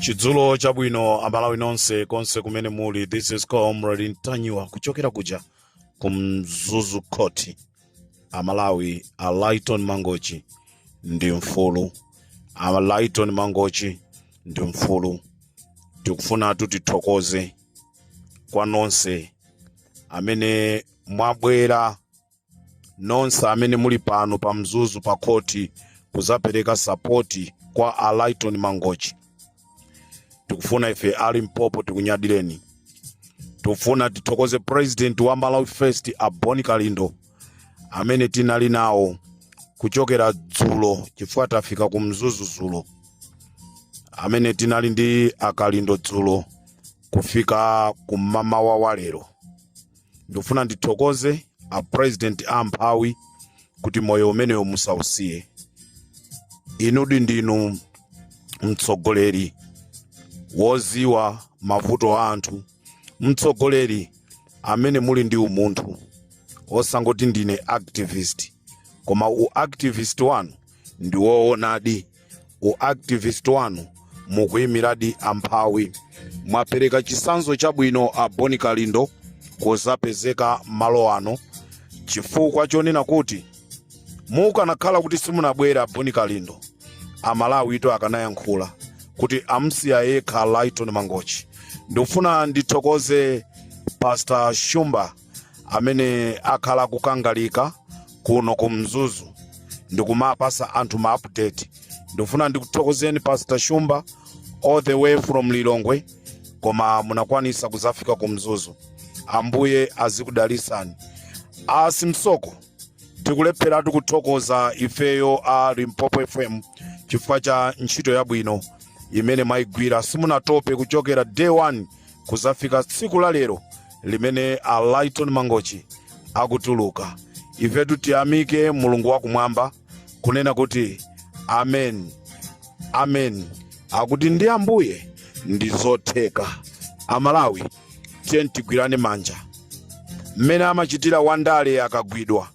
chidzulo chabwino amalawi nonse konse kumene muli this is comrade ntanyiwa kuchokera kuja ku mzuzu court amalawi a lighton mangochi ndi mfulu a lighton mangochi ndi mfulu tikufuna kuti tithokoze kwa nonse amene mwabwera nonse amene muli pano pa mzuzu pa khoti kuzapereka sapoti kwa a Lighton Mangochi tikufuna ife a Limpopo tikunyadireni tikufuna tithokoze president wa Malawi First a Boni Kalindo amene tinali nawo kuchokera dzulo chifukwa tafika ku mzuzu dzulo amene tinali ndi akalindo dzulo kufika kumamawa wa lero ndikufuna ndithokoze a president amphawi kuti moyo umenewo musausiye inudi ndinu mtsogoleri woziwa mavuto a anthu mtsogoleri amene muli ndi umunthu osangoti ndine activist koma u activist wanu ndi woonadi u activist wanu mukuyimiradi amphawi mwapereka chisanzo chabwino a boni kalindo kuzapezeka malo ano chifukwa chonena kuti mukanakhala kuti simunabwere a boni kalindo amalawitu akanayankhula kuti amsiya yekha lighton mangochi ndikufuna ndithokoze pastor shumba amene akhala akukangalika kuno ku mzuzu ndikumapasa anthu ma update ndikufuna ndikuthokozeni pastor shumba all the way from lilongwe koma munakwanisa kuzafika ku mzuzu ambuye azikudalisani a simsoko tikulepheratu kuthokoza ifeyo a limpopo fm chifukwa cha ntchito yabwino imene mwayigwira simunatope kuchokera day one kuzafika tsiku la lero limene a Lighton Mangochi akutuluka ifetu tiyamike mulungu wakumwamba kunena kuti amen amen akuti ndi ambuye ndi zotheka amalawi tiyeni tigwirane manja mmene amachitira wandale akagwidwa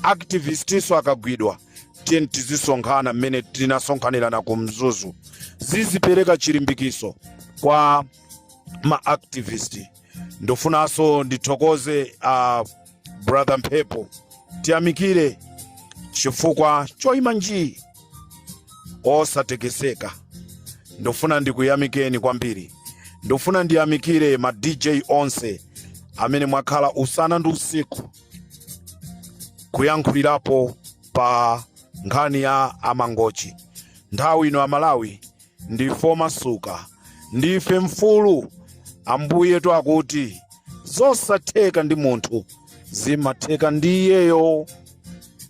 activistiso akagwidwa tiyeni tizisonkhana mmene tinasonkhanirana ku mzuzu zizipereka chilimbikiso kwa ma activist ndofunanso ndithokoze a brother mphepo tiyamikire chifukwa choyima njii osatekeseka ndofuna ndikuyamikeni kwambiri ndofuna ndiyamikire ma dj onse amene mwakhala usana ndi usiku kuyankhulirapo pa nkhani ya amangochi nthawi ino amalawi ndife omasuka ndife mfulu ambuye wakuti zosatheka ndi munthu zimatheka ndi iyeyo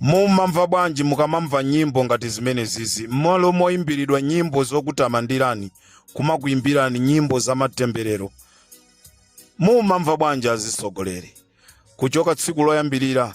mumamva bwanji mukamamva nyimbo ngati zimene zizi mmalo moyimbiridwa nyimbo zokutamandirani kumakuyimbirani nyimbo za matemberero mumamva bwanji azitsogoleri kuchoka tsiku loyambirira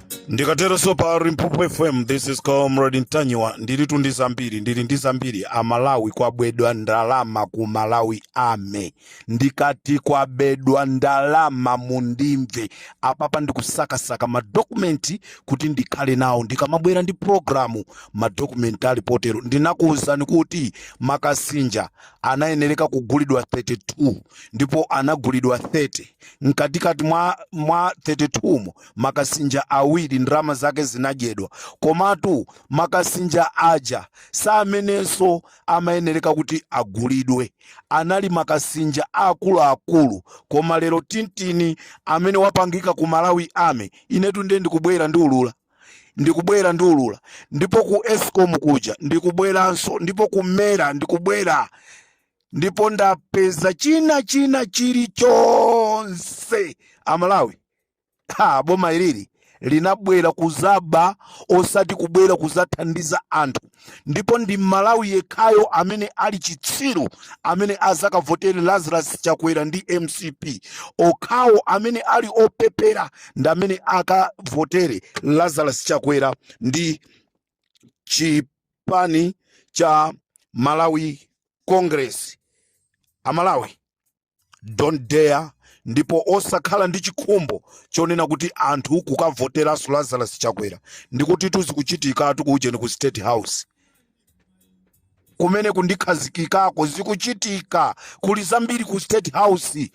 ndikateronso pa limpopo fm this is comrade ntanyiwa ndilitu ndi zambiri ndili ndi zambiri amalawi kwabedwa ndalama ku malawi ame ndikati kwabedwa ndalama mundimve apapa ndikusakasaka madokumenti kuti ndikhale nawo ndikamabwera ndi programu madokumenti ali potero ndinakuwuzani kuti makasinja anayenereka kugulidwa 32 ndipo anagulidwa 30 mkatikati mwa, mwa 32 mo makasinja awiri ndalama zake zinadyedwa komatu makasinja aja samenenso amayenereka kuti agulidwe anali makasinja aakuluakulu koma lero tintini amene wapangika ku malawi ame inetu ndiye ndikubwera ndiulula ndikubwera ndiulula ndipo ku escom kuja ndikubweranso ndipo ku mera ndikubwera ndipo ndapeza china china chilichonse amalawi ha boma ilili linabwera kuzaba osati kubwera kuzathandiza anthu ndipo ndi mmalawi yekhayo amene ali chitsiru amene azakavotere lazarus chakwera ndi mcp okhawo amene ali opepera ndi amene akavotere lazarus chakwera ndi chipani cha malawi congress amalawi don't dare ndipo osakhala ndi chikhumbo chonena kuti anthu kukavoteranso lazarus chakwera ndikuti tu zikuchitikatu ku ujeni ku state house kumene kundikhazikikako zikuchitika kuli zambiri ku state house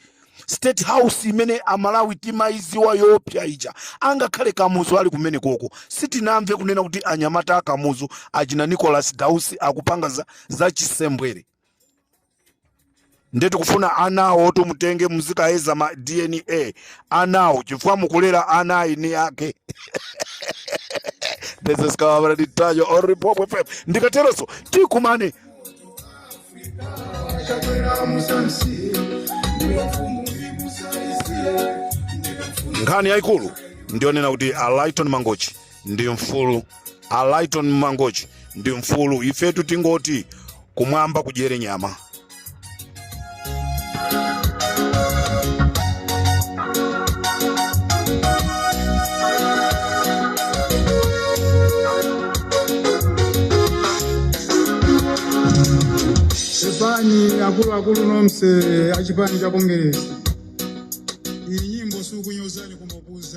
state house imene amalawi timayiziwa yoopsa ija angakhale kamuzu ali kumenekoko sitinamve kunena kuti anyamata a kamuzu achina nicholas dausi akupanga za, za chisembwere nde tikufuna anawotu mutenge muzikayeza ma dna anawo chifukwa mukulera ana a eni ake this is comrade ntanyiwa on limpopo fm ndikateronso tikumane nkhani yayikulu ndiyonena kuti a lighton mangochi ndi mfulu a lighton mangochi ndi mfulu ifetu tingoti kumwamba kudyere nyama sefani akuluakulu nomse achipani cha kongeresi iyi nyimbo sikukunyozani koma kuuza